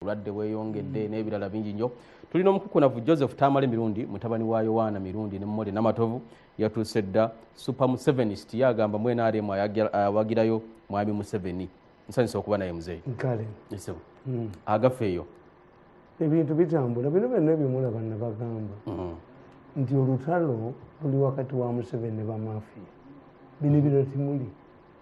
obulwadde bweyongedde mm. n'ebirala bingi nnyo tuli n'omukukunavu joseph tamale mirundi mutabani wa yowaana mirundi ne mumole namatovu yatuuse dda super musevenist ye agamba mu nrm awagirayo mwami museveni nsanyusa okuba naye muzeeyi kale esebo mm. agafa eyo ebintu bitambula bino byonna ebimulaba nabagamba mm. nti olutalo luli wakati wa museveni ne bamafiya bino ebirala timuli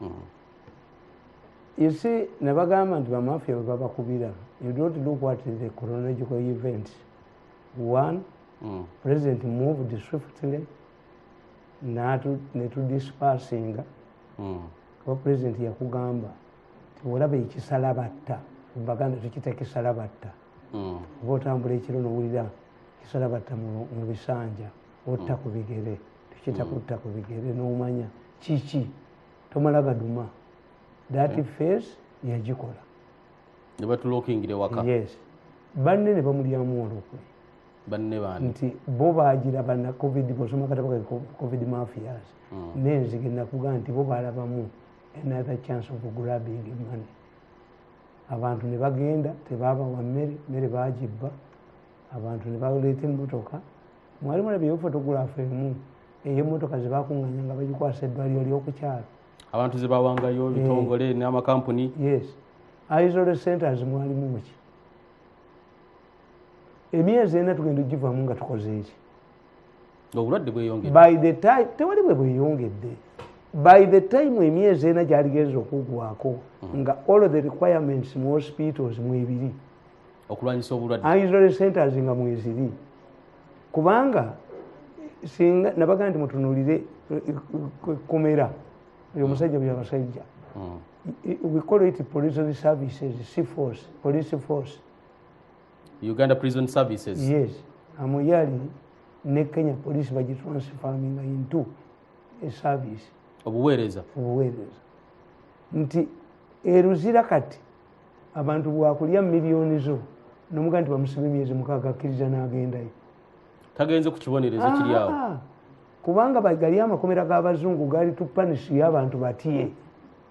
hmm. you see nebagamba nti bamafia bebabakubira you don't look what is the chronological event one mm. president moved swiftly netudispersinga mm. kuba president yakugamba tiolaba ekisala batta baganda tukita kisala batta mm. oba otambula ekiro nowulira kisala batta mu bisanja otta mm. ku bigere tukiyita kutta ku bigere n'omanya kiki tomala gaduma that hmm. face yagikola nebatulokingire waka yes banne ne bamulyamu olukwe banne bani nti bo bagiraba na covid bosoma katabo ka covid mafias hmm. nenzige nakuga nti bo balabamu another chance of grabbing money abantu ne bagenda tebabawa mmere mmere bagibba abantu ne baleeta emmotoka mwali mulabyeyo fotogulaafu emu ey'emmotoka ze baakunganya nga bagikwasa eddwaliro ly'okukyalo abantu ze bawangayo eh. ebitongole n'amakampuni yes isole centers mwalimu muki emyezi ena tugenda ogivamu nga tukoze eki obulwadde bweyongedde tewali bwe bweyongedde by the time emyezi ena gyaligenza okugwako mm. nga all the requirements mu hospitals mwebiri okulwanyisa obulwadde ah, israel centers nga mweziri kubanga singa nabaga nti mutunulire kumera oyo musajja bya basajja hmm. we call it prison services sea force police force uganda prison services yes amuyali ne kenya police bagitransfaminga into a service obuweereza obuweereza nti eruzira kati abantu bwakulya miliyoni zo nomuga nti bamusiba emyezi mukaaga akkiriza n'agendayo tagenze ku kibonerezo kiri awo ah, kubanga gali amakomera g'abazungu gali tupanisiyo abantu batye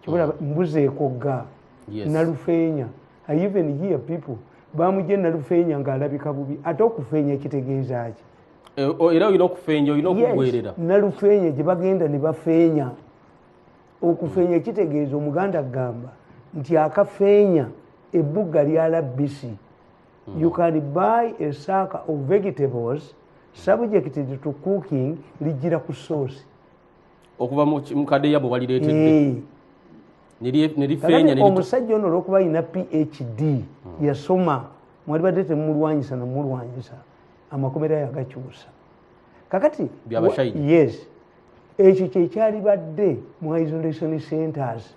kibula hmm. mbuzi ekogga nalufeenya even here people bamugye nalufeenya ng'alabika bubi ate okufeenya kitegeeza ki e, era olina okufeenya olina okugwerera nalufeenya gye bagenda ne bafeenya okufeenya kitegeeza omuganda kugamba nti akafeenya ebbugga lya labbisi hmm. you can buy a saaka of vegetables subjected to cooking lijjira ku soosi okuva mukadeya bwe walireetedde omusajja ono olwokuba alina phd hmm. yasoma mwalibadde temumulwanyisa namulwanyisa amakomera yagakyusa kakati yes ekyo kyekyalibadde mu isolation centers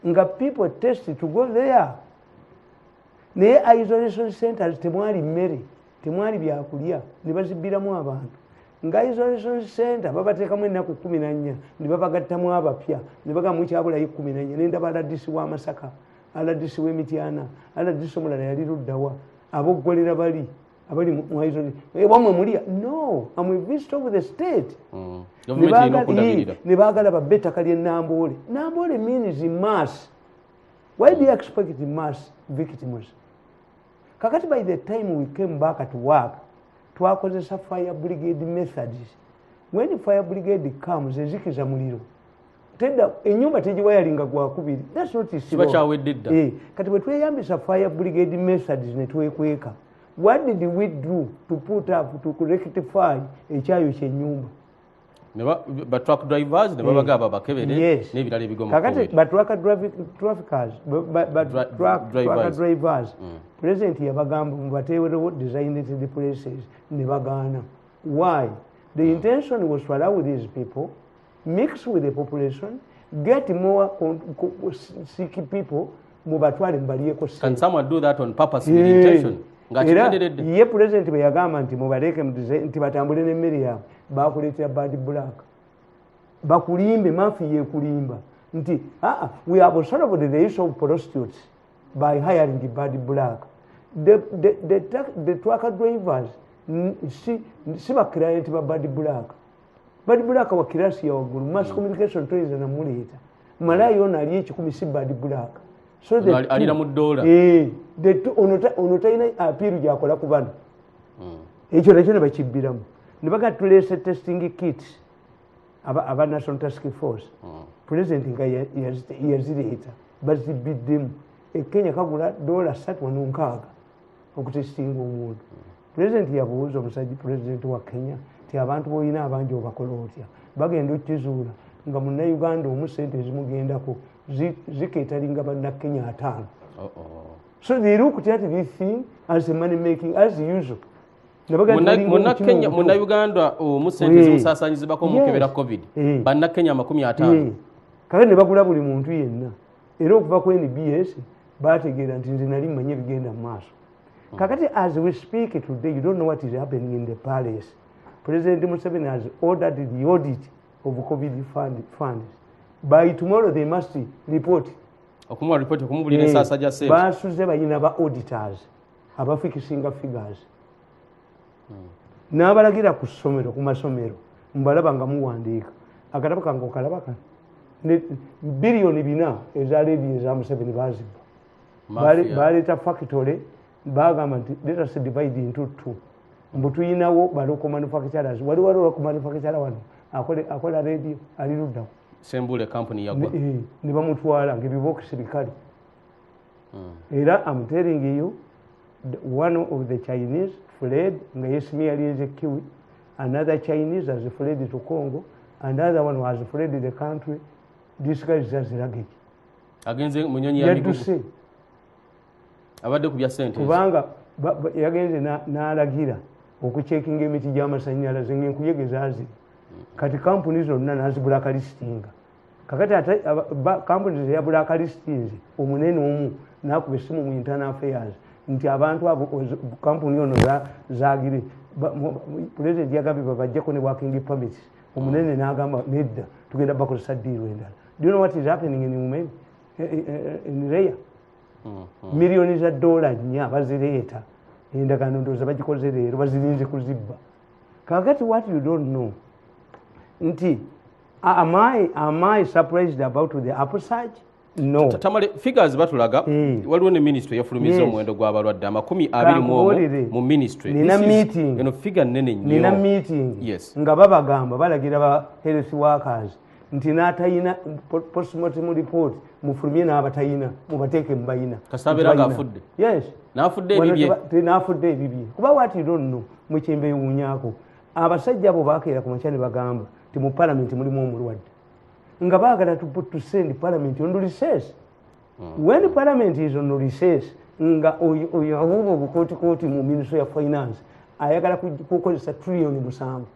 nga people test to go there naye isolation centers temwali mmere temwali byakulya nebazibbiramu abantu nga isolation center babateekamu ennaku kumi nannya nebabagattamu abapya nebagamu kyabulayo kumi nannya nendaba aladisi wa masaka aladisi wemityana aladisi omulala yali luddawa aboggolera bali abali mu- mu isolation Eh, wamwe mulya no am a visit of the state Mm. Ne Gavumenti erina baagala- okudabirira. Ii, ne baagala babbe ettaka ly'e namboole namboole means mass why do you expect mass victims kakati by the time we came back to work twakozesa fire brigade methods when fire brigade comes ezikiza muliro tedda enyumba tegiwayalinga gwakubiri kiba kyawedde dda eh, kati bwe tweyambisa fire brigade message ne twekweka what did we do to put up to rectify ekyayo kyenyumba batruck drivers ne babaga babakebere eh, n'ebirala ebigomkakati batruck drivers mm. president yabagamba mubateewerewo designated places ne bagaana why the mm. intention was to allow these people mix with the population get more sick people mubatwale mubaliyeko can someone do that on purpose with yeah. intention era ye pulezidenti bwe yagamba nti mubaleeke nti batambule n'emmere yaabwe bakuleetera bad black bakulimbe mafi yekulimba nti aa we have solved the issue of prostitutes by hiring the bad black the, the, the, the, the truck drivers si, si baclient ba bad black bad black wa kirasi yawaggulu mass mm. communication toyinza namuleeta malaayi ono ali ekikumi si bad black alira mu dola eh, ono talina apiiru gyakola ku bano mm. ekyo nakyo ne bakibbiramu ne baga tuleese testing kit aba national task force mm. president nga yazireeta bazibbiddemu ekenya kagula dola satu wano nkaaga okutestinga omuntu pulezidenti yabuuza omusajja pulezidenti wa kenya ti abantu boolina abangi obakola otya bagenda okizuula nga munnayuganda omu sente ezimugendako ziketalinga bannakenya ataano so they look at this thing as a money making as usual munnayuganda omu sente zimusasanyizibako mukebera covid bannakenya amakumi ataano kale ne bagula buli muntu yenna era okuva ku nbs bategeera nti nze nali mmanyi ebigenda mu maaso hmm. kakati as we speak today you don't know what is happening in the palace president museveni has ordered the audit of covid fund, funds by tomorrow they must report okumuwa report okumubulira eh, ensaasa gya sente basuze balina ba auditors abafikisinga figures hmm. n'abalagira ku ssomero ku masomero mbalaba nga muwandiika akatabo kange okalaba kano biliyoni bina eza ledi eza museveni bazibba baleeta fakitole bagamba nti letase divide into two mbu tuyinawo baloko manufacturers wali waliwo ku manufacture wano akola radio ali luddawo sembule kampuni yagwa eh, ne bamutwala ngaebibokisi bikale hmm. era am telling you one of the chinese fled nga yesimiyalinze kiwi another chinese has fled to congo and other one has fled the country this guy is just luggage agenze munyonyi ya migugu abadde ku bya sente kubanga yagenze n'alagira okucekinga emiti gy'amasannyalaze ng'enkuyege zaazi kati kampuni zonna nazibulakalistinga kakati ate kampuni teyabulakalistinze omunene omu nakuba esimu mu internal affairs nti abantu abo kampuni ono zagire pulezidenti yagambye babajjeko ne working permits omunene mm. nagamba nedda tugenda bakozesa diiru endala do you know what is happening in umeni eh, eh, eh, in reya mm-hmm. miliyoni za dola nnya bazireeta endagaano ndooza bagikoze leero bazirinze kuzibba kakati what you don't know nti am i am i surprised about the upsurge no tamale figures batulaga mm. waliwo ne ministry yafulumiza yes. omuwendo gw'abalwadde amakumi abiri mu mu ministry nina meeting eno figure nene nnyo nina meeting yes nga babagamba balagira ba health workers nti natayina postmortem report mufulumye n'abatayina mubateeke mubayina kasabeera nga afudde yes nafudde ebibye nafudde ebibye kuba wati donno mukyembe ewunyako abasajja abo bakeera ku makya ne bagamba nti mu palamenti mulimu omulwadde nga baagala tusend palamenti on reses hmm. when palamenti is on reses nga oyo abuuba obukootikooti mu ministry ya finance ayagala kukozesa trilioni musanvu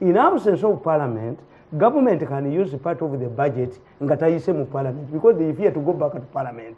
in absence of parliament government can use part of the budget nga tayise mu parliament because they fear to go back to parliament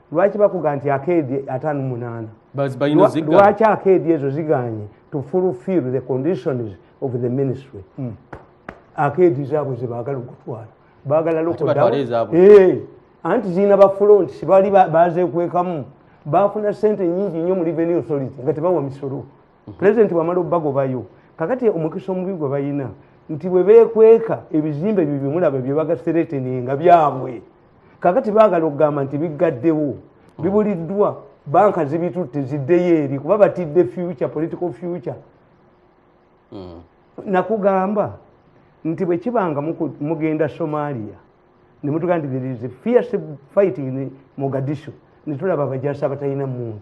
lwaki bakuga nti akeedi atano munaana lwaki akeedi ezo ziganye to fulfill the conditions of the ministry hmm. akeedi zaabwe zebagala okutwala bagala lokodawo eh, anti zirina bafulont sibali bazekwekamu bafuna sente nyingi nyo mu revenue authority nga tebawa misolo pulezidenti bwamala obubagobayo kakati omukisa omubi gwe balina nti bwe beekweka ebizimbe ebyo byemulaba byebagaseretenenga byabwe kakati baagala okugamba nti biggaddewo bibuliddwa banka zibitutte ziddeyo eri kuba batidde future political future hmm. nakugamba nti bwe kiba nga mugenda somalia ne mutugamba nti there is a fierce fighting mogadisho ne tulaba abajasi abatalina mundu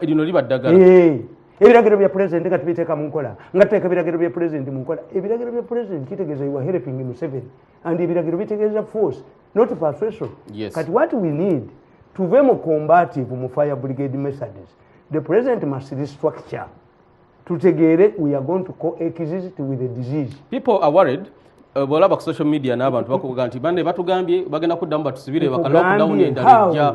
lino liba ddagala eh, ebiragiro bya pulezidenti nga tubiteeka mu nkola nga tuteeka ebiragiro bya pulezidenti mu nkola ebiragiro bya pulezidenti kitegeeza iwa helping museven and ebiragiro bitegeeza force not persuasion yes. kati what we need tuve mu combative mu fire brigade messages the president must restructure tutegeere we are going to coexist with the disease people are worried uh, bwolaba ku social media n'abantu bakuga nti bane batugambye bagenda kuddamu batusibire bakalwa kudamu nendala ejja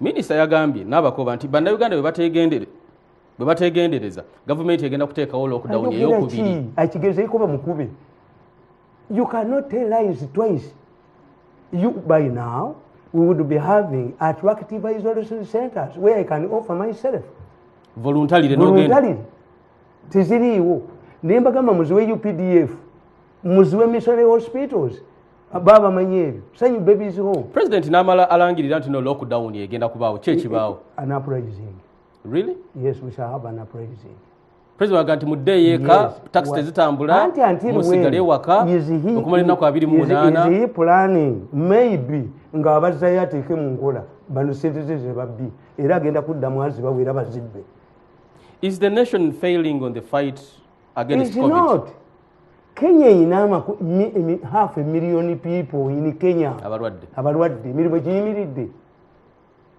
minisita yagambye n'abakoba nti bannayuganda bwe bategendereza gavumenti egenda kuteekawo lockdown eyokubiri akigezeyo kuba mukube you cannot tell lies twice you by now we would be having attractive isolation centers where i can offer myself voluntarily voluntarily teziriiwo naye mbagamba muziwe updf muziwe missionary hospitals baba bamanyi ebyo sanyu babies home president namala alangirira nti no lockdown egenda kubaawo kyekibaawo an uprising really yes we shall have an uprising president aga nti muddeeyo eka taxi tezitambula musigale ewaka okumala ennaku abiri mu munaana planning maybe nga abazzayo ateeke mu nkola bano sente ze zebabbi era agenda kudda mwazi bawera bazibbe is the nation failing on the fight against covid not. kenya erina half emillion people in kenya abalwadde emirimu giyimiridde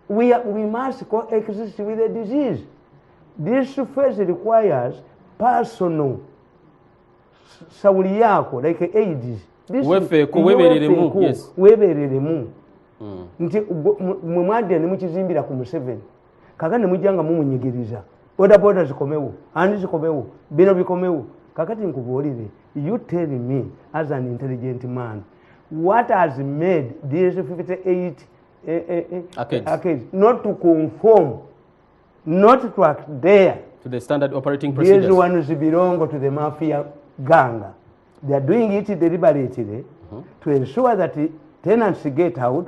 we, we must coexist with the disease this phase requires personal sawuli yaako like aids webereremu nti mwe mwadde nemukizimbira ku museveni kakati nemujja nga mumunyigiriza bodaboda zikomewo ani zikomewo bino bikomewo kakati nkubuulire you tell me as an intelligent man what has made this 58 eh, eh, eh, arcades not to conform not to adhere to the standard operating procedures these ones belong to the mafia gang they are doing it deliberately mm -hmm. to ensure that tenants get out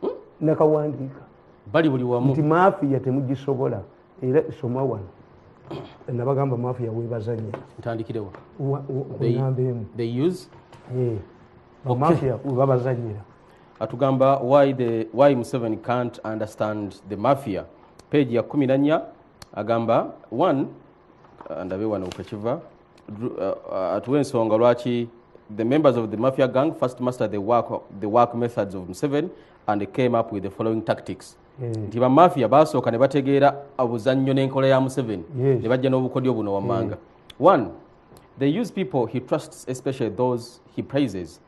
hmm? nakawandiika bali buli wamu nti mafiya temugisobola era isoma wano nabagamba mafiya webazanya ntandikirewa kunamba emu eh, bamafiya webabazanyira atugamba why, the, why museveni can't understand the mafia page ya kumi nanya agamba one uh, ndabe wano kwekiva uh, atuwa ensonga lwaki the members of the mafia gang first master the work, the work methods of museven and came up with the following tactics hmm. nti mm. bamafia basooka ne bategeera obuzannyo n'enkola ya museveni yes. ne bajja n'obukodyo buno wammanga mm. one they use people he trusts especially those he praises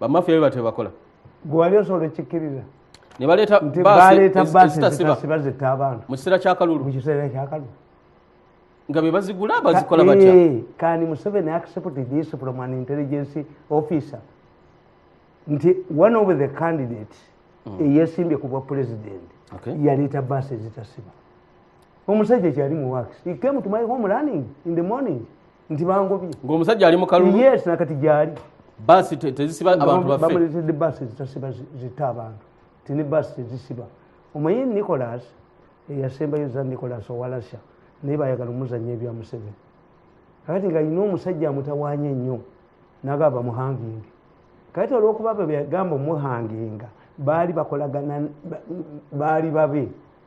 bamafiya bebatyo bebakola gwe wali osobola okikkiriza ne baleeta baasiba zitta abantu mu kiseera kyakalulu mu kiseera kyakalulu nga be bazigula bazikola batya eh, kani museveni accept this from an intelligence officer nti one of the candidate mm. eyesimbye ku bwa president yaleeta baasi ezitasiba omusajja kyali mu wax he came to my home running in the morning nti bangobye ngaomusajja ali mukalulu yes nakati gyali basi tezisiba abantu baffe bamuletedde basi zitasiba zita abantu ti ne basi tezisiba omanyi nicolas eyasembayo za nicolas owalasha naye bayagala omuzanya ebya museveni kakati nga alina omusajja amutawanya ennyo nagaba bamuhanginge kakati olwokuba bebagamba omuhanginga baali bakolagana baali babe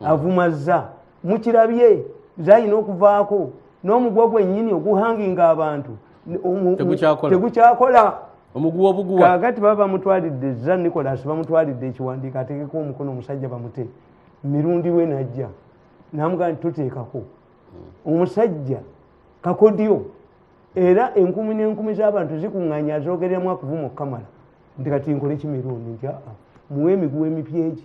avumazza mukirabye zalina okuvaako n'omugwa gwennyini oguhanginga abantu tegukyakola kakati baba bamutwalidde za nicolas bamutwalidde ekiwandiiko atekeko omukono omusajja bamute mirundi we najja namugaa nti tuteekako hmm. omusajja kakodyo era enkumi n'enkumi z'abantu zikuŋŋanya zoogereramu akuvuma okukamala nti kati nkole kimirundi nti aa muwe emiguwa emipyegi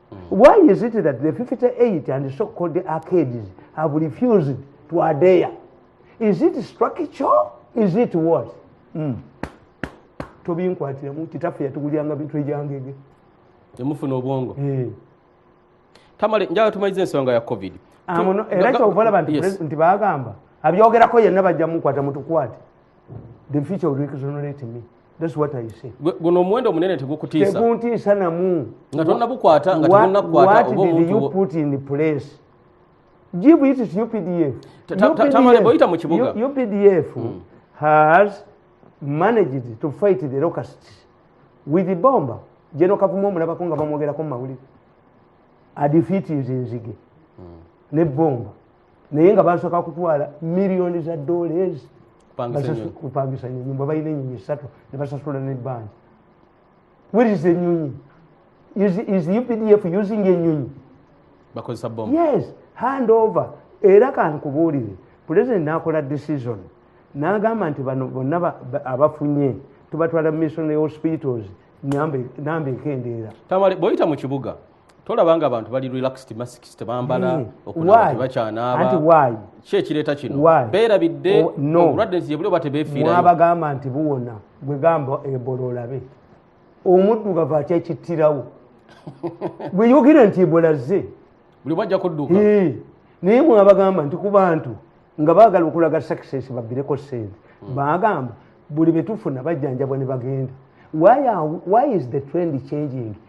Why is it that the 58 and so called arcades have refused to adhere? Is it structure? Is it what? Mm. Tobinkwatiramu kitaffe yatugulyanga bintu ebyangege. Yamufuna obwongo. Eh. Tamale njala tumayize ensonga ya COVID. Amono ah, era kyovala bantu nti bagamba abyogerako yenna bajja mukwata mutukwate. The future will exonerate me. guno omuwendo omunene tegukutiisateguntiisa namu nga tonabukwata nga tegunakukwata oba omuntu give it to updf tamale boyita mu kibuga updf hmm. has managed to fight the locusts with the bomba jeno kavuma omulabako nga bamwogerako mu mawulire adifeat nze nzige hmm. ne bomba naye nga basoka kutwala miliyoni za dollars kupangisa nyonyi bwe balina enyonyi esatu ne basasula nebbanja where is enyonyi is, is updf using enyonyi bakozesa bom yes hand over era kankubuulire pulezidenti n'akola decision n'agamba nti bano bonna abafunye tubatwala missionary hospitals namba ekendeera bwoyita mu kibuga tolaba nga abantu bali relaxed masks tebambala hmm. okunatebakyanaaba ki ekireeta kino beerabidde obulwadde oh, nsi yebuli oba tebefiiramwabagamba nti buwona gwe gamba ebola olabe omuddugavu atya ekittirawo gweyogera nti ebola zze buli bajja kudduka naye mwabagamba nti ku bantu nga baagala okulaga success babbireko sente hmm. baagamba buli betufuna bajjanjabwa ne bagenda why is the trend changing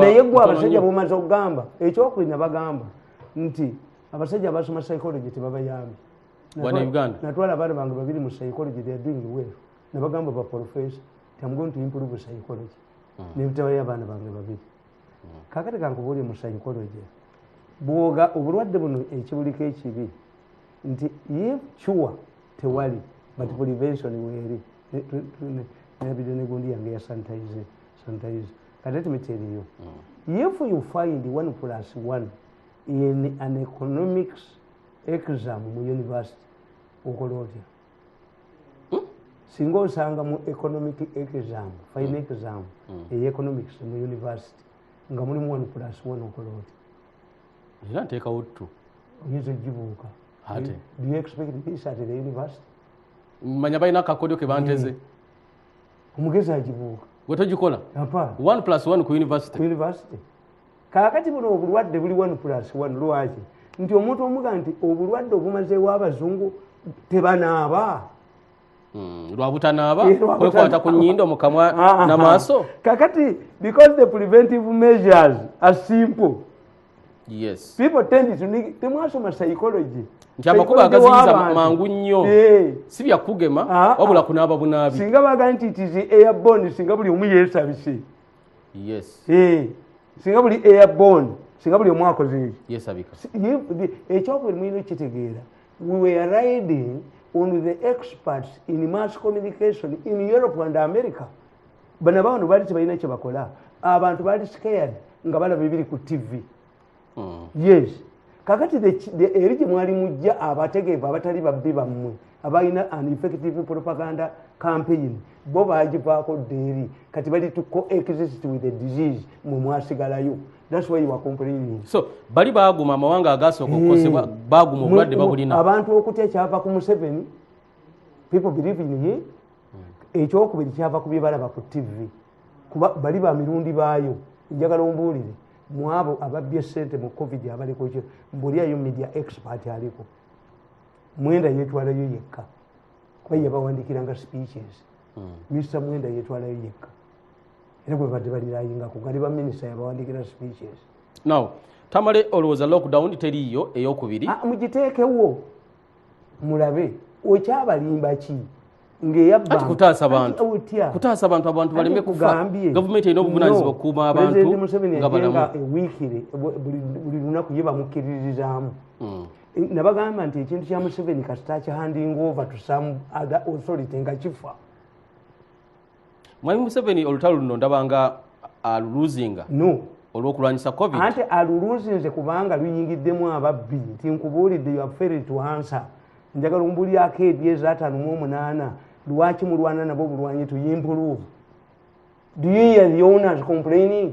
naye gwe abasajja bomaze okugamba ekyokuli nabagamba nti abasajja abasoma psychology tebabayambi natwala abaana bange babiri mu psychology they are doing well nabagamba ba professor am going to improve psychology hmm. nebitabayo abaana bange babiri hmm. kakati kankubuulye mu psychology bwoga obulwadde buno ekibuliko ekibi nti ye cuwa tewali but hmm. prevention weeri nabide negundi yange yasanitize sometimes but let me tell you mm. if you find one plus one in an economics exam mu university okola otya hmm? singa osanga mu economic exam fine hmm. exam hmm. ey economics mu university nga mulimu one plus one okola otya era nteekawo ttu oyinza ogibuuka do you expect this at the university manya balina akakodyo ke banteze mm. omugezi agibuuka gwe togikola one plus one ku university kakati buno obulwadde buli one plus one lwaki nti omuntu omuga nti obulwadde obumazeewo abazungu tebanaaba hmm, lwabutanaaba eh, kwekwata ku nyindo mukamwa namaaso kakati because the preventive measures are simple yes people tend to need temwasoma psychology nti amakubo agaziyiza mangu nnyo eh. si byakugema ah, ah. wabula kunaaba bunaabi singa bagala nti it is airborne singa buli omu yesabise yes eh. singa buli airborne singa buli omu akoze yesabika ekyokubiri eh, mulina okitegeera we were riding on the experts in mass communication in europe and america bana bano bali tebalina kyebakola abantu bali scared nga balaba ebiri ku tv hmm. yes kakati eri gye mwali mujja abategeevu abatali babbi bammwe abalina an effective propaganda campaign bo bagivaako ddeeri kati bali to coexist with the disease mwe mwasigalayo that's why you are complaining so bali baguma amawanga agaasooka okukosebwa hmm. baguma obulwadde babulina abantu okutya kyava ku museveni people believe in him hmm. ekyokubiri kyava ku byebalaba ku tv kuba bali ba mirundi baayo njagala ombuulire mwabo ababbye sente mu covid abaliko kyo mbuliayo media expert aliko mwenda yetwalayo yekka kuba yabawandikiranga speeches mr hmm. mwenda yetwalayo yekka era gwe badde balirayingako gali baminisita yabawandikira speeches now tamale olowooza lockdown teriiyo eyokubiri ah, mugiteekewo mulabe okyabalimba ki ngeyakutaasa bantu kutaasa abantu abantu baleme kufa gavumenti erina obuvunanyizibwa okukuuma abantu nga balamu ewiikire buli lunaku ye bamukkiririzaamu hmm. nabagamba nti ekintu kya museveni kasita kihanding over to some other authority nga kifa mwami museveni olutalo luno ndabanga aluluzinga no olwokulwanyisa covid ante aluluzinze kubanga luyingiddemu ababbi nti nkubuulidde yoaferetuhansa njagala ombulyako ebyezi atano mu omunaana lwaki mulwana nabo bulwanyi tuyimpuluvu do you hear the owners complaining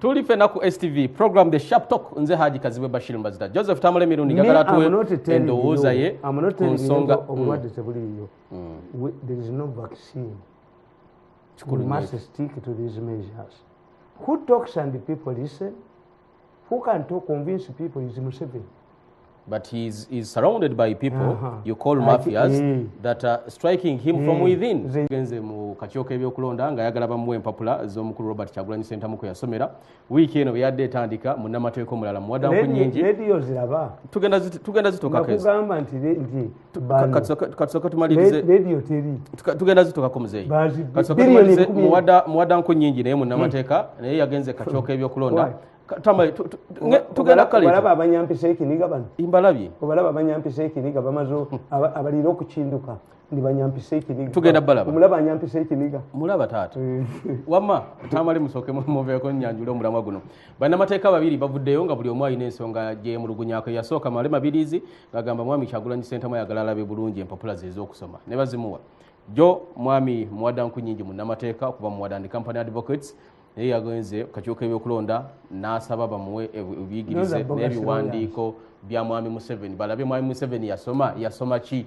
tuli fena ku stv program the sharp talk nze haji kaziwe bashir mbazita joseph tamale mirundi gagala tuwe endowooza ye ku nsonga obulwadde tebuliiyo there is no vaccine you must stick to these measures who talks and people listen who can talk convince people is museveni but he's, he's surrounded by people uh -huh. you call mafias uh, that are striking him uh, from mm. within genze mu kakyoka ebyokulonda nga ayagala bamuwa empapula z'omukulu robert kyagulanyi sentamuko yasomera wiiki eno bweyadde etandika munnamateeka omulala muwadamu ku nyingi tugenda zitokakugamba nti tugenda zitukako muzeeyi muwada nku nyingi naye munamateeka hmm. naye yagenze kakyoka ebyokulonda tugendakalaba abanyampisa ekiniga bano mbalabye obalaba abanyampisa ekiniga bamaze abalira okukinduka nibanyampisa ekiniga tugenda balaba omulaba anyampisa ekiniga mulaba taata eh. wama tamale musooke muveeko nyanjule omulamwa guno banamateeka babiri bavuddeyo nga buli omu alina ensonga gyemulugunyako yasooka male mabirizi ngagamba mwami kyagulanyi sentamu ayagala alabe bulungi empapula ze ezokusoma ne bazimuwa jo mwami muwada nku nyingi munamateeka okuva muwada ndi company advocates naye yagenze kakyuka ebyokulonda nasaba bamuwe ebiyigirize nebiwandiiko bya mwami museveni balabe mwami museveni yasoma yasoma ki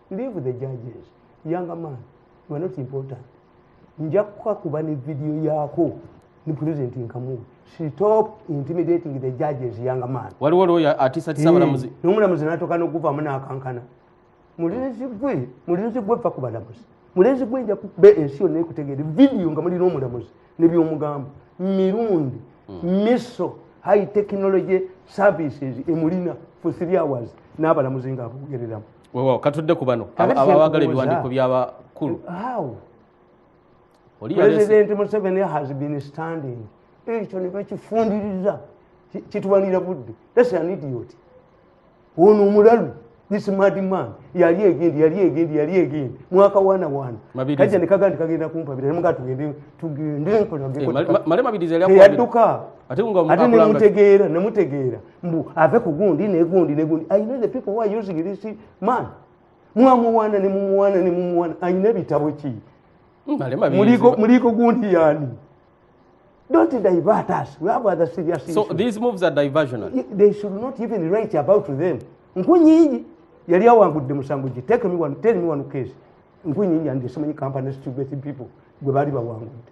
leave the judges young man you are not important nja kukakuba ne video yako ne president nkamu stop intimidating the judges young man waliwo loya atisa tisa balamuzi mm. nomula muzi natoka no kuva muna akankana mulinzi gwe mulinzi gwe fa kubala muzi mulinzi gwe nja kube ensio ne kutegere video nga muli nomula muzi ne byo mugambo mirundi mm. miso high technology services emulina for 3 hours nabala muzinga kugereramu wewawo katudde ku bano Kale aba- abagala kyenkubuuza. ebiwandiiko by'abakulu how oli yaleese president museveni has been standing ekyo ne bakifundiriza Ki- kituwanira budde thats an idiot ono omulalu this mad man yali egendi yali egendi yali egendi mwaka wana wana Mabirizi. kajja nekaga nti kagenda kumpabira nemuga tugende tugende Eh, Male- Ma- male mabirizi yali akwabira. teyadduka ate nga ate akulanga- nemutegeera nemutegeera mbu ave ku gundi negundi negundi i know the people who are using this man mwamuwana ne mumuwana ne mumuwana ayina ebitabo ki muliko gundi yani don't divert us we have other serious issues. so these moves are diversional they should not even write about them nkunyingi yali awangudde musango gye take me one tell me one case nkunyingi and so many companies to get people gwe baali bawangudde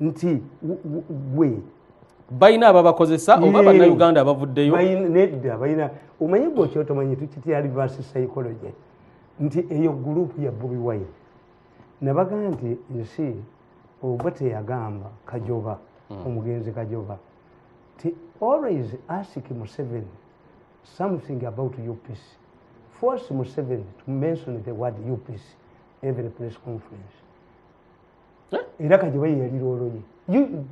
nti gwe balina ababakozesa oba bannayuganda abavuddeyo nedda balina omanyi gwe okyotomanyi tukitya reverse psychology nti eyo gurupu ya bobi wine nabaga nti nsi ogwe teyagamba kajoba hmm. omugenzi kajoba ti always ask museven something about upc force museven to mention the word upc every press conference era kajiba yeyalira oloye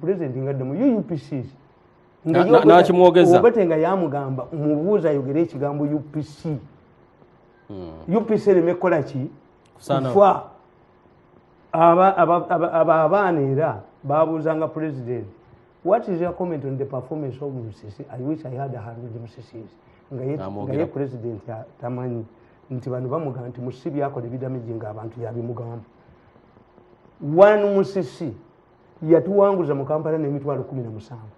president nga dda mu upcs nakimwogezabate nga yamugamba mubuuza ayogere ekigambo upc hmm. upc ereme kukola ki kufa aba abaana era babuuzanga president what is your comment on the performance of musisi i wish i had hundred musisis nga ye president tamanyi nti bano bamugamba nti musisi byakola ebidamiji nga abantu yabimugamba one musisi yatuwanguza mu kampala n'emitwalo kumi na musanvu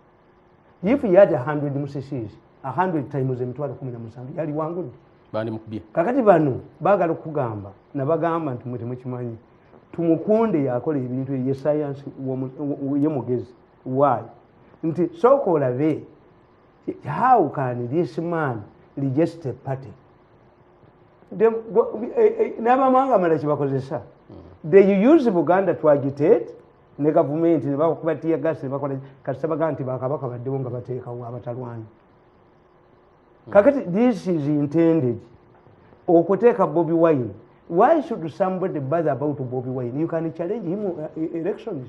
if he had a hundred musisies a hundred times emitwalo kumi na musanvu yaliwangudde kakati bano bagala okugamba nabagamba nti mwe temukimanyi tumukunde yakola ebintu eye sayansi ye mugezi waayo nti sooka olabe how can this man register party Eh, eh, n'abamawanga amalala kyebakozesa hmm. they use buganda to agitate ne gavumenti nebakuba tiyagas nebakola kasita baga nti bakabaka baddewo nga bateekawo abatalwani hmm. kakati this is intended okuteeka bobi wine why should somebody bother about bobi wine you can challenge him uh, elections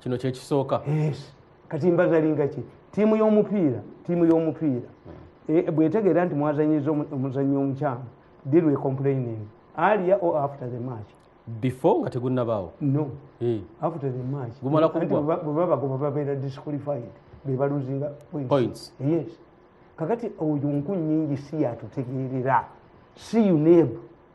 kino kyekisooka kati mbazalinga ki tiimu y'omupiira tiimu y'omupiira hmm. eh, bwetegeera nti mwazanyiza omuzanyi omukyamu deal we complaining alia o after the match before nga tegunabaawo no eh. after the match bwebabagoba babeera disqualified bebaluzinga points yes kakati oyo nku nyingi si yatutegeerera si uneb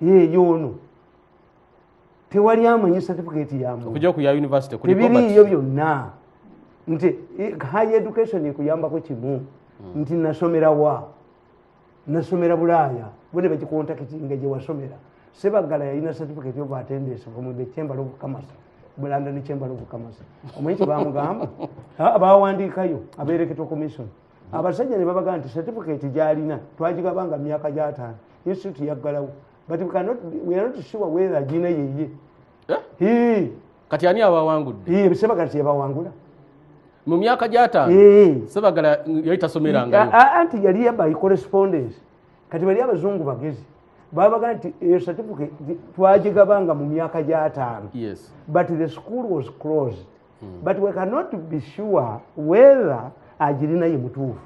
yeeyo ono tewali amanyi certificate yamuebiriiyo byonna nti eh, high education ekuyambako kimu hmm. nti nasomera wa nasomera bulaaya bone bakikontakitinga gyewasomera sebagala yalina certificate of attendance from the chamber of commerce bulanda ne chamber of commerce omanyi kyebamugamba bawandiikayo abereketwa commission abasajja ne babaga nti certificate gyalina twagigabanga mu myaka gyataano institute yaggalawo but we cannot, we are not sure whether gina yeye eh? kati ani abawangudde sebagala teyabawangula mu myaka gyataano sebagala yali tasomeranga anti yali yabayi correspondence kati bali abazungu bagezi babaga nti eyo certificate twagigabanga mu myaka gyataano but the school was closed hmm. but we cannot be sure whether agirina ye mutuufu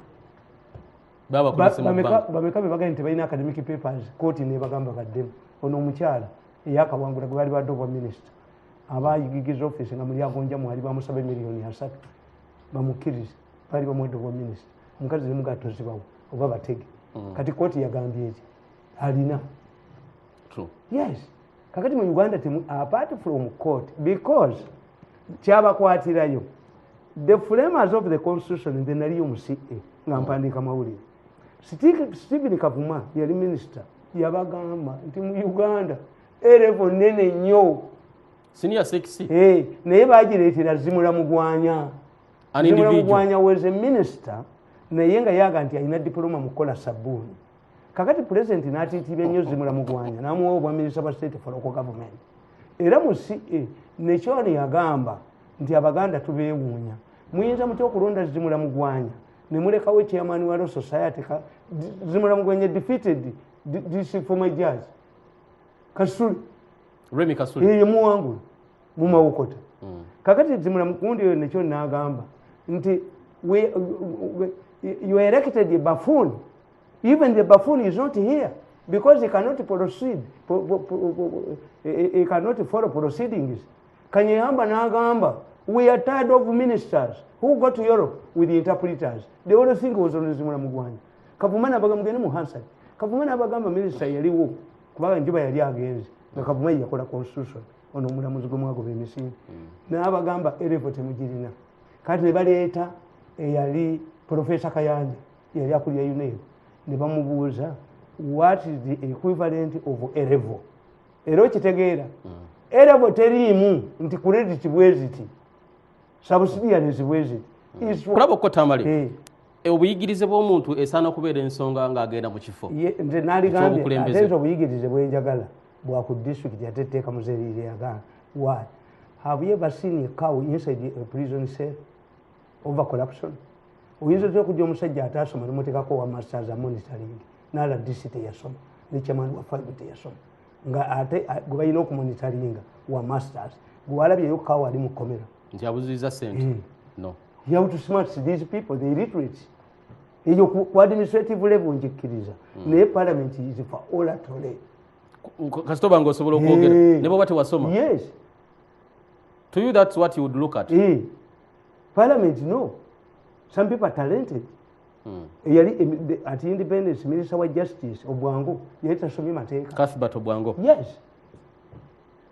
bameka bebagaye nti balina academic papers kooti nebagamba baddemu ono omukyala eyakawangula gwebaali badde obwa minisita abayigigiza office nga muli agonja mwali bamusaba emiliyoni asatu bamukkirize baali bamwedde obwa minisita omukazi nemugatozibawo oba batege hmm. kati kooti yagambye eki alina yes kakati mu uganda temu apart from court because kyabakwatirayo the framers of the constitution nze naliyo mu ca nga oh. mpandiika mawulire stephen kavuma yali minister yabagamba nti mu uganda erevo nene nnyo senior sexy hey, eh, naye bagireetera zimula mugwanya zimula mugwanya was a minister naye nga yaga nti alina diploma mu kukola sabuuni kakati pulezidenti n'atiitiibya nnyo zimula mugwanya n'amuwa obwaminisita bwa state for local government era mu ca nekyoni yagamba nti abaganda tubeewuunya muyinza mutya okulonda zimula mugwanya ne mulekawo chairman wa law society zimula mugwanya defeated dc former judge kasule remi kasule yeye muwangulu mu mawokota mm. kakati zimula mukundi oyo nekyoni n'agamba nti you erected a buffoon Even the buffoon is not here because he cannot proceed, he cannot follow proceedings. Kanyehamba Nagamba, we are tired of ministers who go to Europe with the interpreters. They all think was on Zimula Mugwanya. Kavumana Bagamugani Muhansa, Kavumana Bagamba minister Yaliwo, Kubaga Juba Yali against the Kavumaya Kola Constitution on Omula Muzgumago Missing. Hmm. Now Bagamba, Erevote Mujirina. Kati Baleta, Yali, Professor Kayanja. yali akulira unair ne bamubuuza what is the equivalent of erevo era okitegeera mm. erevo teriimu nti credit bweziti sabusidiyanezi bweziti mm. kulaba okukotamale eh. e, obuyigirize bwomuntu esaana okubeera ensonga ngaagenda mu kifo nze naligambye obuyigirize bwenjagala bwaku district ate etteeka muzeriire yagana why have you ever seen a cow inside a prison cell over corruption oyinza otya okujja omusajja ataasoma nemutekako owa masters amonitoring nala disi teyasoma nekyamani wa five teyasoma nga ate gwe balina okumonitoringa wa masters gwewalabyeyo kawa ali mukomera nti abuziza sente hmm. no you have to smart these people the illiterate eyo ku administrative level njikkiriza hmm. naye parliament is for olatole kasita obanga osobola okwogera eh. ne bwoba tewasoma yes to you that's what you would look at eh. parliament no some people are talented hmm. eyali at independence minister wa justice obwango yali tasomye mateeka cathbert obwango yes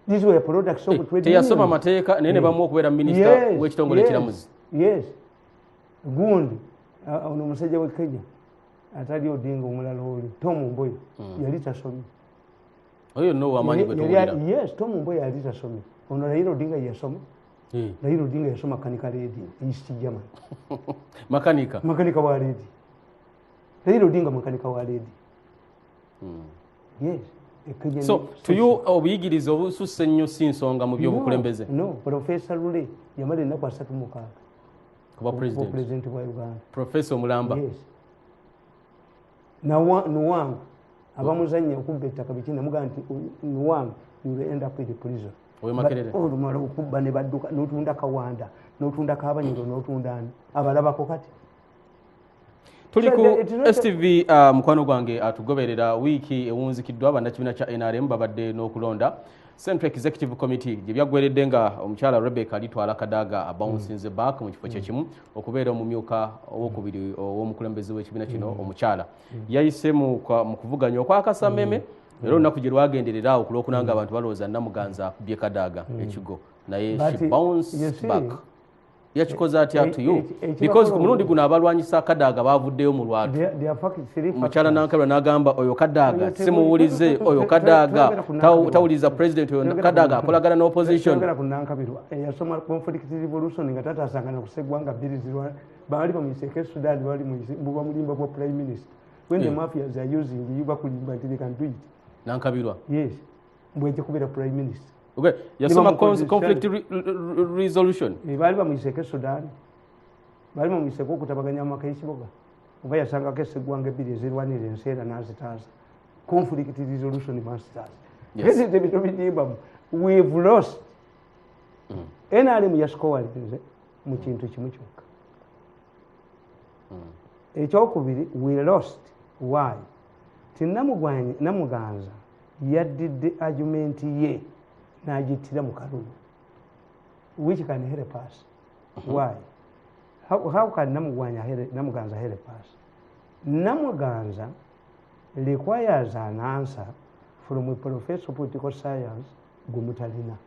these were products of eh, trade teyasoma mateeka naye ne bamu okubeera minister w'ekitongole ekiramuzi yes gundi uh, ono omusajja w'e kenya atali odinga omulala oli tom mboyo hmm. yali tasomye oyo no wamanyi gwe tuwulira yes tom mboyo yali tasomye ono raila odinga yasoma hmm. raila odinga yasoma kanika ledi east german makanika makanika wa ledi raila odinga makanika wa ledi hmm. yes so tuyo obuyigiriza obususse ennyo si nsonga mu byobukulembeze no profesa lule yamala ennaku asatu mukaaga kuba president wa uganda profesa omulamba yes. nuwangu abamuzanya okubba ettaka biki namugamba nti nuwangu you end up with prison olumala okubba ne badduka notunda kawanda notunda kabanyiro notunda ani abalabako kati tuli ku stv uh, mukwano gwange atugoberera wiiki ewunzikiddwa bannakibiina kya nrm babadde n'okulonda central executive committee gye byaggweredde nga omukyala rebecca alitwala kadaaga abounsinze back mu kifo kyekimu mm. okubeera omumyuka owokubiri ow'omukulembeze w'ekibiina kino mm. omukyala mm. yayise mu kuvuganya okwakasameme era olunaku gye lwagenderera awo ku lwokuna nga abantu balowooza namuganza akubye kadaaga hmm. ekigo naye yakikoze atya eh, tuyo eh, eh, because ku mulundi guno abalwanyisa kadaaga bavuddeyo mu lwatu mukyala nankalwa nagamba oyo kadaaga simuwulize oyo kadaaga tawuliriza president oyo kadaaga akolagana ne opposition baali bamuyise ekesudani baali mububamulimba bwa prime minister when the mafias are using you bakulimba nti they can do it nankabirwa yes mbweje kubera prime minister okay yasoma conflict resolution eh, bali bamuyiseko sudan bali bamuyiseko okutabaganya amaka y'ikibuga oba yasangako esegwanga ebbiri ezirwanira ensi era nazitaasa conflict resolution masters ese ebintu bidimbamu we've lost mm. nrm yasikowalinze mu kintu kimu kyokka hmm. ekyokubiri we lost why ti namugwanyi namuganza yaddidde argument ye nagittira mu kalulu which can help us hmm. why how, how can namugwanya namuganza help us namuganza requires an answer from a professor political science gumutalina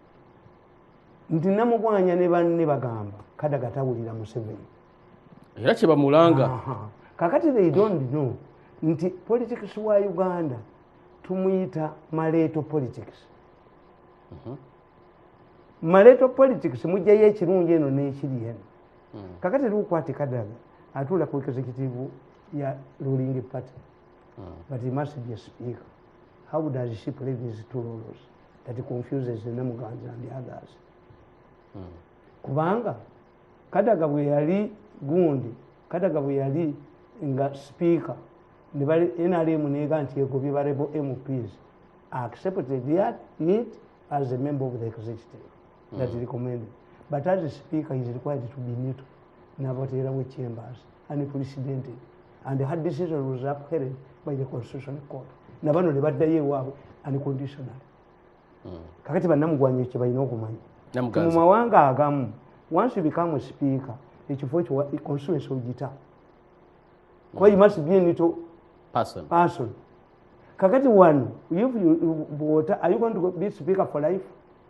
nti namugwanya ne banne bagamba kadaga tawulira museveni era kyebamulanga kakati they don't know nti politics wa uganda tumuyita maleeto politics mhm. maleeto politics mujjayo ekirungi eno n'ekiri eno mhm. kakati lukwati kadaga atuula ku executive ya ruling party mhm. but he must be a speaker how does she play these two roles that confuses the namuganza and others mm. kubanga kadaga bwe yali gundi kadaga bwe yali nga speaker nebali nrm nega nti egobye barebo mps accepted yet it as a member of the executive mm. that recommended but as a speaker is required to be neutral nabateerawo chambers and presidented and her decision was upheld by the constitutional court nabano nebaddayo ewaabwe unconditional mm. kakati banamugwanyo kyebalina okumanya mu mawanga agamu once you become a speaker ekifo ekyo constituency ogita kuba you must be nito person, person. kakati wano bwota are you going to be speaker for life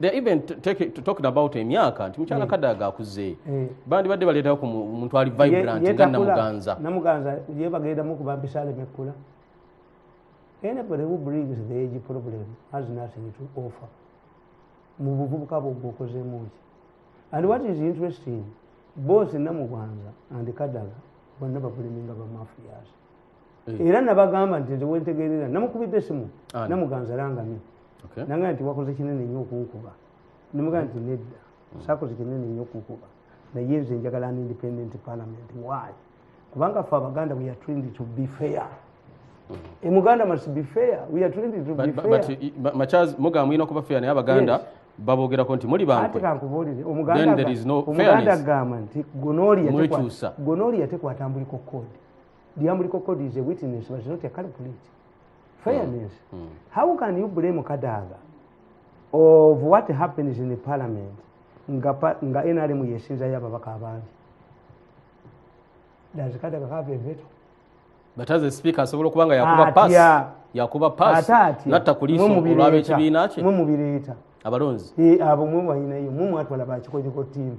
they're even talking about emyaka nti mukyala mm. kadaga akuze mm. bandibadde baleetayo ku muntu ali vibrant nga namuganza namuganza ye bagendamu kuba mpisa alemekula anybody who brings the age problem has nothing to offer mu buvubuka bwogwe okozemu ki and what is interesting both namuganza and kadaga bonna bakuliminga bamafias eh. era nabagamba nti nze wentegerera namukubidde esimu namuganza langamye nanga nti wakoze kinene nnyo okunkuba nemugaa nti nedda hmm. sakoze kinene nnyo okunkuba naye nze njagala an independent parliament why kubanga fe abaganda we are trained to be fair e muganda must be fair we are trained to be fair but uh, machaz muga mwino kuba fair ne abaganda babogera konti muli bantu ati kankubolire omuganda omuganda gama nti gonoli yatekwata gonoli yatekwata mbuliko code lyamuliko kod is a witness but not a calculate fairness mm. Mm. how can you blame kadaga of what happens in the parliament nga, nga nrm yesinzayo ababaka abangi does kadaga have a veto but as a speaker asobola okuba nga yakuba pass yakuba pass natta kuliiso olwaba ekibiina kye mwe mubireeta abalonzi eh, abo mwe balinayo mwe mwatwala bakikoliko tiimu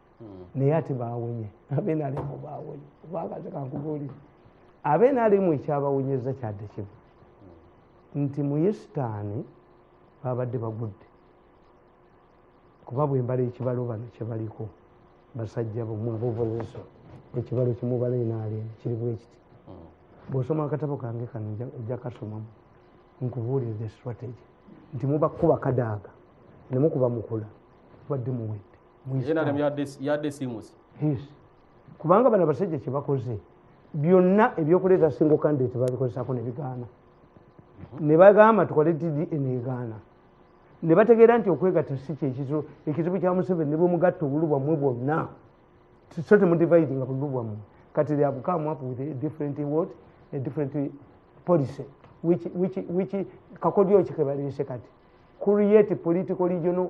naye ate bawonye abenalemu bawonye kubanga tekankubuulire abenalemu ekyabawonyeza kyadde kimu nti muyesitaani babadde bagudde kuba bwembala ekibalo bano kyebaliko basajja bmwabovoleso ekibalo kimubala enaalemu kiri bwekiti hmm. bwosoma akatabo kange kano ojja kasomamu nkubuulire the strategy nti mubakuba kadaaga nemukuba mukula badde muwedde nrm yadde simusi kubanga bano abasajja kyebakoze byonna ebyokuleeta single candidate babikozesako nebigaana nebagamba tukole dd enegaana nebategeera nti okwegatta si kyekizibu ekizibu kya museveni nebwemugatta obulu bwammwe bwonna so temudivide nga bululu bwammwe kati they have come up with a different what a different policy which which which kakodyo kikebaleese kati create political regional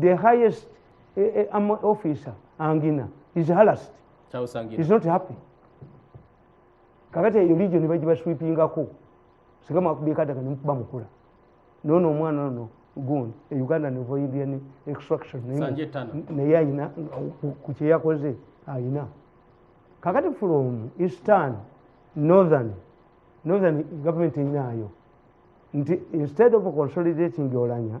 the highest uh, uh, officer angina is harassed is not happy kakati eyo region bagibaswipingako singa mwakubikadaga nemukuba mukula nono omwana ono gundi e uganda nevo indian extraction naye ayina kukyeyakoze ayina kakati from eastern northern northern government eyinaayo nti instead of consolidating olanya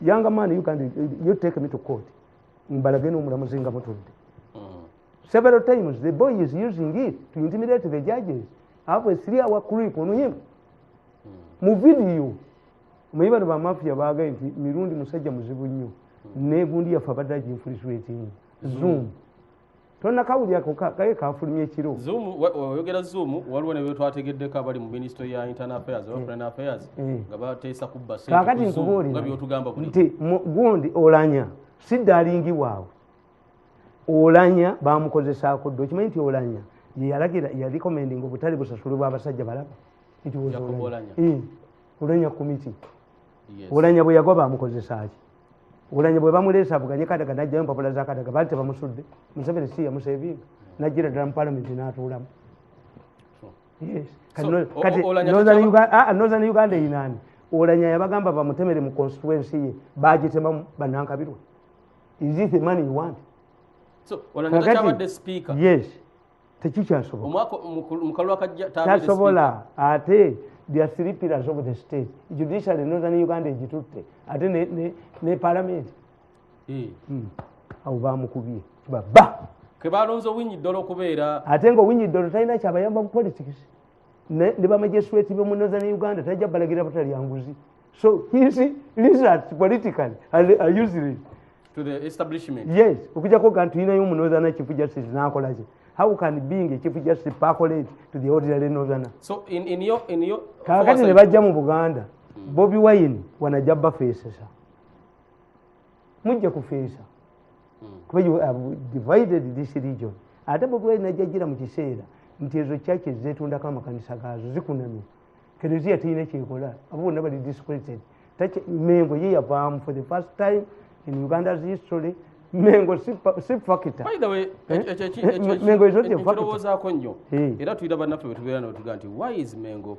yanga man you can you take me to court mbalage n'omulamuzi nga mutudde mm. several times the boy is using it to intimidate the judges have a three hour creep on him mm. mu video muyi bano bamafia baagaye nti mirundi musajja muzibu nnyo mm. negundi yaffe abadde aginfuliswetinga zoom tonakawulirako kaye kafulumya ekiro oyogera zoom waliwo ne betwategeddeko abali mu ministry ya internal affairs oba mm. foreign affairs mm. nga bateesa kubba kakati nkubuulira nti gundi olanya si dalingi waabwe olanya bamukozesaako dda okimanyi nti olanya yeyalagira yalikomending obutale busasulibwa abasajja balaba nti olanya mm. olanya komiti olanya bwe yagwa bamukozesaaki olanya bwe bamuleesa avuganye kadaga najjayo mpapula za kadaga baali tebamusudde museveni si yamusevinga najjira ddala mu palamenti n'atuulamu northern uganda eyinaani olanya yabagamba bamutemere mu constituency ye bagitemamu banankabirwa is it the money you want so, kakati, yes tekikyasobokakyasobola ate byasiripirazo mu the state judiciary noza ne uganda egitutte ate ne palamenti eh. hmm. awo bamukubye baba kebalonze owinyi ddolo okubeera ate nga owinyi ddolo talina kyabayamba mu politics ne bamajesweti bomu northern uganda tajja balagira butalya nguzi so his lizards politically are using it to the establishment yes okujako ga nti yinayo omunothana chief justice nakolaki how can being a chief justice percolate to the ordinary nothana so in, in your, in your kakati ne bajja mu buganda mm. bobi wine wanajja bafeesesa mujja kufeesa hmm. kuba you have divided this region ate bobwai najajira mu kiseera nti ezo kyaki zetundako amakanisa gaazo zikunamye kereziya terina kyekola abo bonna bali discreted mengo ye yavaamu for the first time in uganda's history mengo si fakita mengo ezo te fakita nyo era tuyira banaffe betubeera nabo tuga nti why is mengo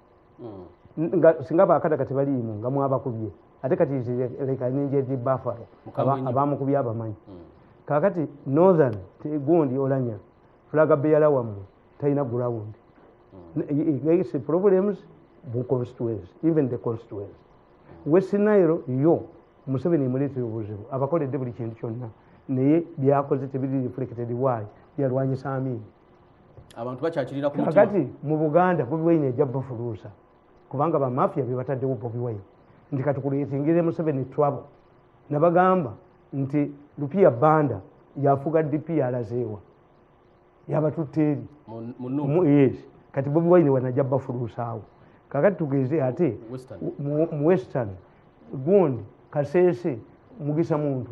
hmm. nga singa bakada kati baliimu nga mwabakubye ate kati leka nenjezi bafaro abamukubye abamanyi hmm. kakati northern gundi olanya fulaga beyala wammwe talina ground gaise hmm. problems bu constituency even the constituency west nile yo museveni emuleetera obuzibu abakoledde buli kintu kyonna naye byakoze tebiri reflected waali yalwanyisa amiini abantu bakyakirira ku mutima kakati mu buganda bobi wine ejja bafuluusa kubanga bamafia bebataddewo bobi wine nti kati kuletingire museveni trouble nabagamba nti lupiya banda yafuga dp yalazeewa yabatutte eri yes kati bobi wine wanajja bafuluusaawo kakati tugeze ate mu western gundi kasese mugisa muntu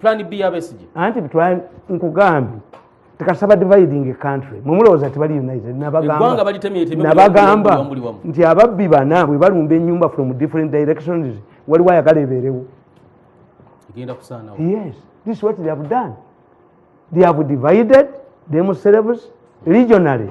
plan b yabesije anti plan nkugambye tekasaba dividing a country mwemulowooza tibali united nabagamba nti ababbi bana bwe balumba enyumba from different directions waliwo ayagala ebeerewo yes this is what they have done they have divided themselves regionally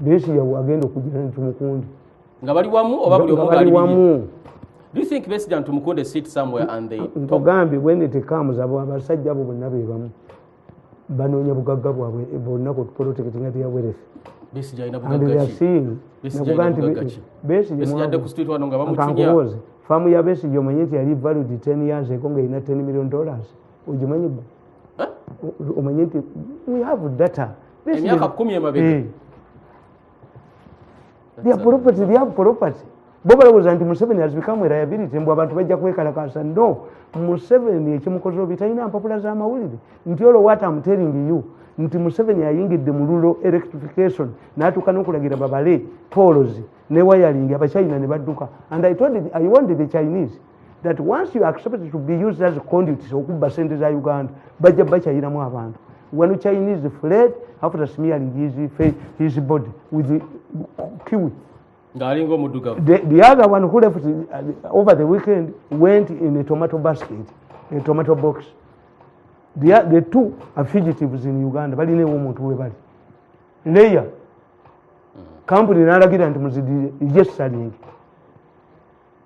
besiga wagenda okujira ntumukundi nga bali wamu oba buli omu ngali wamu Do you think Besija and Tumukunde sit somewhere and they Ntogambi when it comes abo abasajja abo bonna be bamu banoonya bugagga bwabwe bonna ku protect nga their wealth Besija ina bugagga ki Besija ina bugagga ki Besija ade ku street wano nga bamuchinya Famu ya Besija omanyi nti yali valued 10 years ago nga ina 10 million dollars ojimanyi gwe Omanyi nti we have data emyaka kumi emabega eh. their property they have property bo balowooza nti museveni has become a liability mbu abantu bajja kwekalakasa no museveni ekimukoze obi talina mpapula za mawulire nti olwo what am telling you nti museveni ayingidde mu lulo electrification natuuka nokulagira babale polozi ne wayalingi abachina ne badduka and i told it, i wanted the chinese that once you accept to be used as conduits okubba sente za uganda bajja bakyayiramu abantu when chinese fled after smearing his, his body with the kiwi ngaalinga omudugavu the, the other one who left uh, over the weekend went in a tomato basket a tomato box the, the two are fugitives in uganda balina ewo omuntu we bali leya kampuni nalagira nti muzidi yesalingi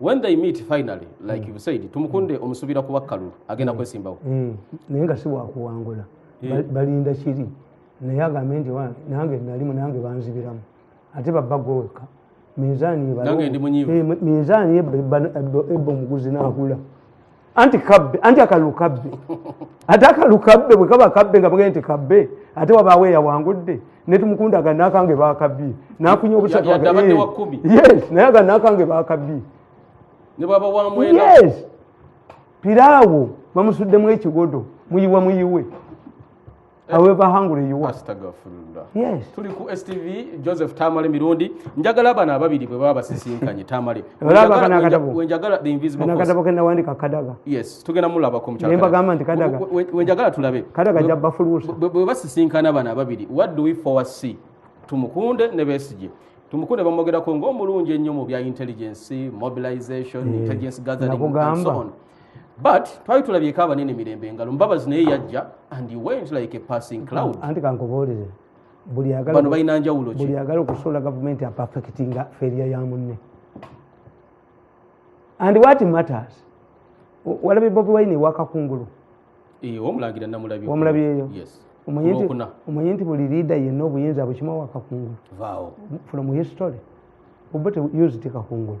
when they meet finally like you said tumukunde omusubira kuba kalulu agenda kwesimbawo eh, naye nga siwakuwangula eh. balinda kiri naye agambe nti wange nange nalimu nange banzibiramu ate babba gwewekka minzaani minzaani ebba omuguzi nakula anti kabbe anti akalulu kabbe ate akalulu kabbe bwe kaba kabbe nga bwgende nti kabbe ate wabaawo eyawangudde netumukunda aga nakange bakabbi nafunya obusatu yes naye aga nakange bakabbi yes piraawo bamusuddemu ekigodo muyiwa muyiwe Eh. however hungry you are astagfirullah yes tuli ku stv joseph tamale mirundi njagala abana ababiri bwe baba basisinkanye tamale olaba kana kadabo wenjagala the invisible kana kadabo kenda wandika kadaga yes tugenda mulaba ko mchaka nemba gamba nti kadaga wenjagala tulabe kadaga jabba fulusa bwe basisinkana abana ababiri what do we foresee tumukunde ne besije tumukunde bamogera ko ngomulunje nnyo mu bya intelligence mobilization mm. intelligence gathering and so on but twali tulabyeko abanene mirembe engalo mbabazi naye yajja and he went like a passing cloud anti kankubuulire bano balina njawulo buli agala okusuula gavumenti apafekitinga feria ya munne and what matters walabye bobi wine wakakungulu omulangira namulabi omulabyeyo omanyi nti buli liida yenna obuyinza bukima wakakungulu from history obote used kakungulu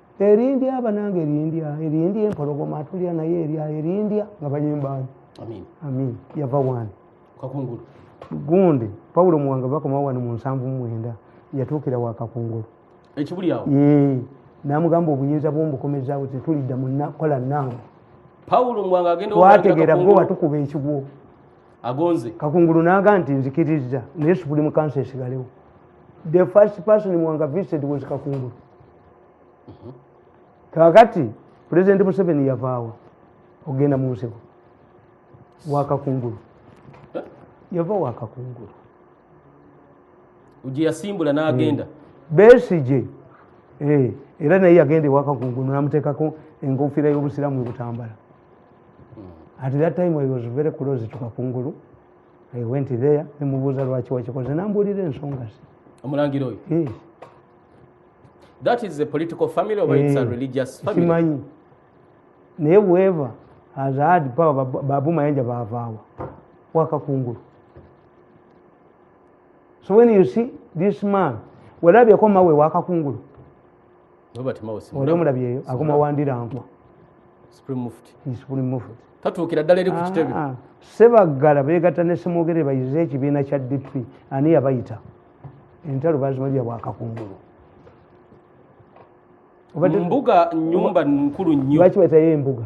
erindya abananga erindya erindya empologoma atulya naye erya erindya nga bayimbaani amin yava wani kakungulu gundi pawulo muwanga bakomawo wano mu nsanvu mwenda yatuukira wa kakungulu ekibulyawo namugamba obuyinza bwombukomezaawo tetulidda munakola nange pawulo muwanga agenda twategeera gwe watukuba ekigwo agonze kakungulu naga nti nzikiriza naye supulimu kansa esigalewo the first person muwanga visited was kakungulu mhm. kakati pulezidenti museveni yavaawa okugenda mu nsiko wakakungulu eh? yava wakakungulu gyeyasimbula nagenda hmm. besije eh, era naye yagenda ewakakungulu namutekako enkofiira y'obusiramu ebutambala hmm. at that time i was very close to kakungulu i went there nemubuuza lwaki wakikoze nambuulira ensonga ze omulangira oyo that is a political family or it's a eh, religious family simanyi naye whoever has had power babu mayanja bavaawa wakakungulu so when you see this man walabyeko mawe wakakungulu oli omulabyeyo akoma wandirankwa tatuukira ddala eri ku ah, kitebe ah. sebaggala beegatta ne semwogere bayize ekibiina kya dp ani yabayita entalo bazimalira bwakakungulu mbuga nyumba nkulu nyo lwaki batayo embuga